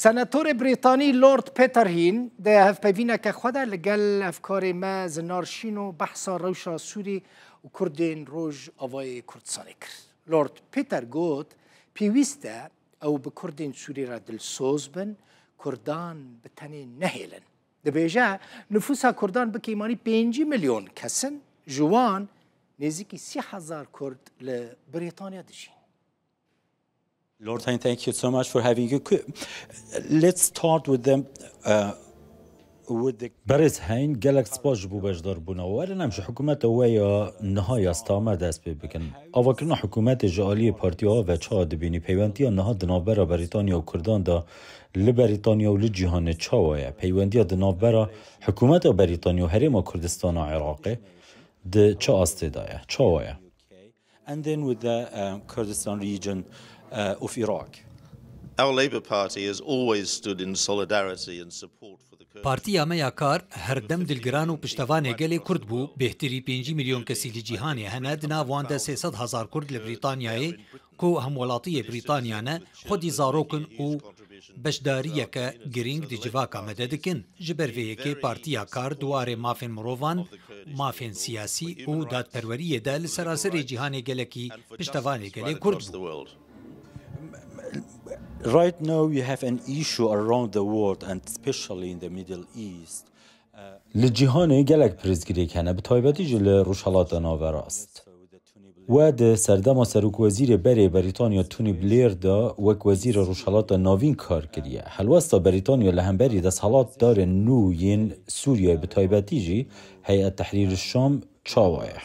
Senatorê Brîtanî Lord Peterhîn di hevpeyvîneke xwe de li gel hevkarê me Zinar Şîno behsa rewşa Sûrî û Kurdên Rojavayê Kurdistanê kir. Lord Peter got, Pêwîst e ew bi Kurdên Sûrî re dilsoz bin, Kurdan bi tenê nehêlin. Dibêje, nifûsa Kurdan bi keymanî pêncî milyon kes in, ji wan nêzîkî sî hezar Kurd li Brîtanya dijîn. Lord Hain, thank you so much for having you. Let's start with the uh, with the Berêz Hain, gelek spas ji bo beşdarbûna we. Werin em ji hikûmeta we ya niha ya Stamer dest pê bikin. Avakirina hikûmetê ji aliyê partiya we ve çawa dibînî? Peywentiya niha di navbera Brîtanya û Kurdan de li Brîtanya û li cîhanê çawa ye? Peywendiya di navbera hikûmeta Brîtanya û Herêma Kurdistana Iraqê di çi astê de ye? Çawa ye? and then with the Kurdistan region of Iraq. Our Labour Party has always stood in solidarity and support for the Kurds. Partiya me ya Kar her dem dilgiran û piştevanê gelê Kurd bû. Bêhtirî pêncî milyon kesî li cîhanê hene, di nav wan de sê sed hezar Kurd li Brîtanyayê ku hemwelatiyê Brîtanya ne, xwedî zarok in û Beşdariyeke girîng di civaka me de dikin. Ji ber vê yekê Partiya Kar di warê mafên mirovan, mafên siyasî û dadperweriyê de li seraserê cîhanê gelekî piştevanê gelê Kurd bû. Li cîhanê gelek pirsgirêk hene, bi taybetî jî li Rojhilata Naverast. We di serdema serokwezîrê berê Berîtanya Tony Blair de wek wezîrê Rojhilata Navîn kar kiriye. Helwesta Berîtanya li hemberî desthilatdarên nû yên Sûriyeyê bi taybetî jî Heyet Tehrîr Şam çawa ye?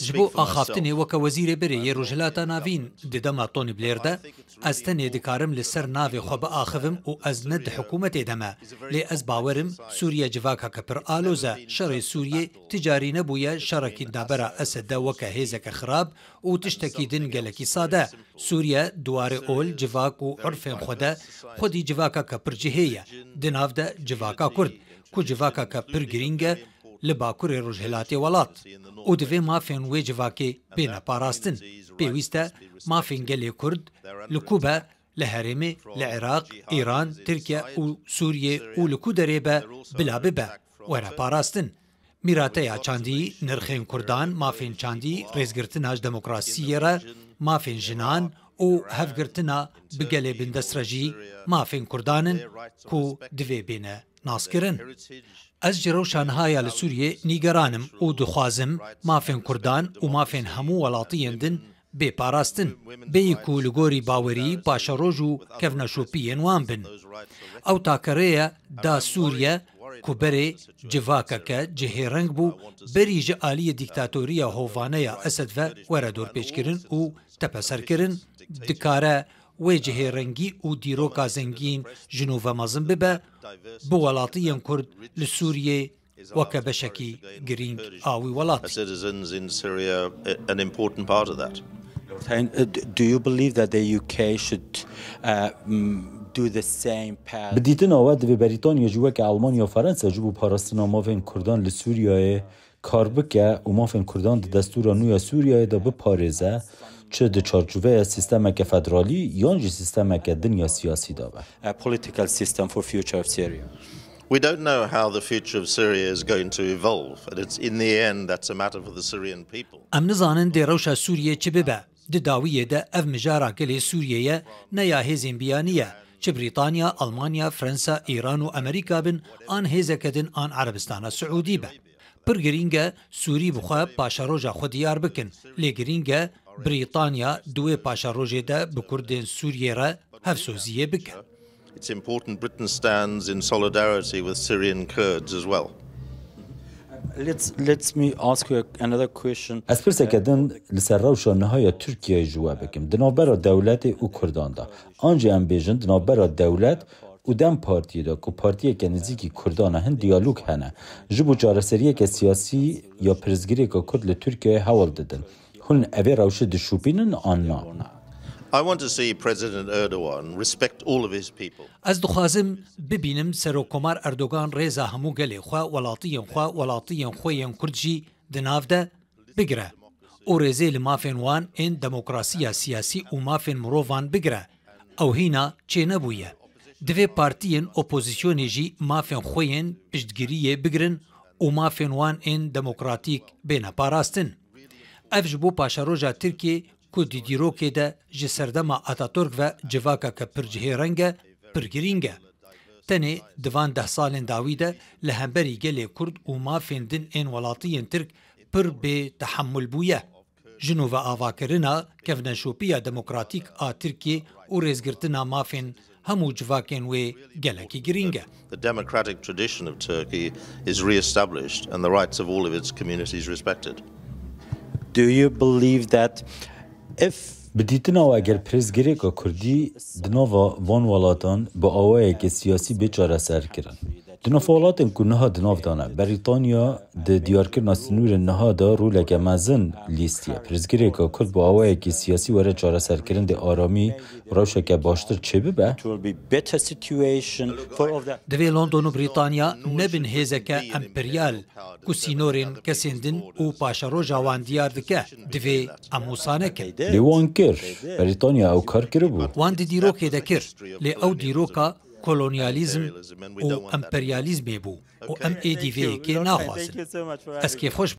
Ji bo axaftinê weke Wezîrê Berê yê Rojhilata Navîn di dema Tony Blair de, Ez tenê dikarim li ser navê xwe biaxivim û ez ne di hikûmetê de me. Lê ez bawer im Sûriye civakeke pir aloz e. Şerê Sûriyê ti carî nebûye şerekî navbera Esede weke hêzeke xirab û tiştekî din gelekî sade. Sûriye di warê ol, civak û urfên xwe de xwedî civakeke pir cihê ye. Di nav de civaka Kurd, ku civakeke pir girîng e, li bakurê rojhilatê welat û divê mafên wê civakê bêne parastin. Pêwîst e mafên gelê Kurd li ku be li herêmê, li Iraq, Îran, Tirkiye û Sûriyê û li ku derê be bila bibe were parastin. Mîrateya çandî, nirxên Kurdan, mafên çandî, rêzgirtina ji demokrasiyê re, mafên jinan û hevgirtina bi gelê bindest re jî mafên Kurdan in ku divê bêne nas kirin. Ez ji rewşa niha ya li Sûriyê nîgeran im û dixwazim mafên Kurdan û mafên hemû welatiyên din bê parastin, bêyî ku li gorî bawerî paşeroj û kevneşopiyên wan bin. Ew take rê ye da Sûriye ku berê civakeke cihêreng bû berî ji aliyê dîktatoriya hovane ya Esed ve were dorpêçkirin û tepeserkirin, dikare wê cihê rengî û dîroka zengîn ji nû ve mezin bibe, bi welatî yên Kurd li Sûriyê weke beşekî girîng a wî welatî. Bi dîtina we divê Berîtanya jî weke Elmanya û Fransa ji bo parastina mafên Kurdan li Sûriyeyê kar bike û mafên Kurdan di destûra nû ya Sûriyeyê de biparêze, çi di çarçoveya sîstemeke federalî yan jî sîstemeke din ya siyasî de be. a political system for future of Syria. We don't know how the future of Syria is going to evolve and it's in the end that's a matter for the Syrian people. Em nizanin dê rewşa Sûriyê çi bibe. Di dawiyê de ev mijara gelê Sûriyeyê ne ya hêzên biyanî ye, çi Brîtanya, Almanya, Fransa, Îran û Amerîka bin an hêzeke din an Erebistana Siûdî be. Pir girîng e Sûrî bi xwe paşeroja xwe diyar bikin, lê girîng e Brîtanya di wê paşerojê de bi kurdên Sûriyê re hevsoziyê bike. It's important Britain stands in solidarity with Syrian Kurds as well. Let's let me ask you another question. Ez pirseke din li ser rewşa niha ya Tirkiyeyê ji we bikim. Di navbera dewletê û Kurdan de. An jî em bêjin di navbera dewlet û dem partiyê de ku partiyeke nizîkî Kurdan e hin diyalog hene. Ji bo çareseriyeke siyasî ya pirsgirêka Kurd li Tirkiyeyê hewl didin. Hûn evê rewşê dişûpînin an na? Ez dixwazim bibînim Serokkomar Erdogan rêza hemû gelê xwe, welatiyên xwe, welatiyên xwe yên Kurd jî di nav de, bigire û rêzê li mafên wan ên demokrasiya siyasî û mafên mirovan bigire. Ew hîna çênebûye. Divê partiyên opozisyonê jî mafên xwe yên piştgiriyê bigirin û mafên wan ên demokratîk bêne parastin. Ev ji bo paşeroja Tirkiyê ku di dîrokê de ji serdema Ataturk ve civakeke pir cihêreng e, pir girîng e. Tenê di van deh salên dawî de li hemberî gelê Kurd û mafên din ên welatiyên Tirk pir bê tehemul bûye. Ji nû ve avakirina kevneşopiya demokratîk a Tirkiyê û rêzgirtina mafên hemû civakên wê gelekî girîng e. The democratic tradition of Turkey is re-established and the rights of all of its communities respected. Do you believe that if. Bi dîtina we eger pirsgirêka kurdî di nava van welatan bi awayekî siyasî bê çareserkirin, Di nav welatên ku niha di nav de ne, Brîtanya di diyarkirina sinûrên niha de roleke mezin lîstiye. Pirsgirêka Kurd bi awayekî siyasî were çareserkirin dê aramî rewşeke baştir çêbibe. Divê London û Brîtanya nebin hêzeke emperyal ku sînorên kesên din û paşeroja wan diyar dike. Divê em wisa nekin. Lê wan kir. Brîtanya ew kar kiribû. Wan di dîrokê de kir. Lê ew dîroka kolonyalîzm û emperyalîzmê bû û em êdî vê yekê naxwazin. Ez kêfxweş.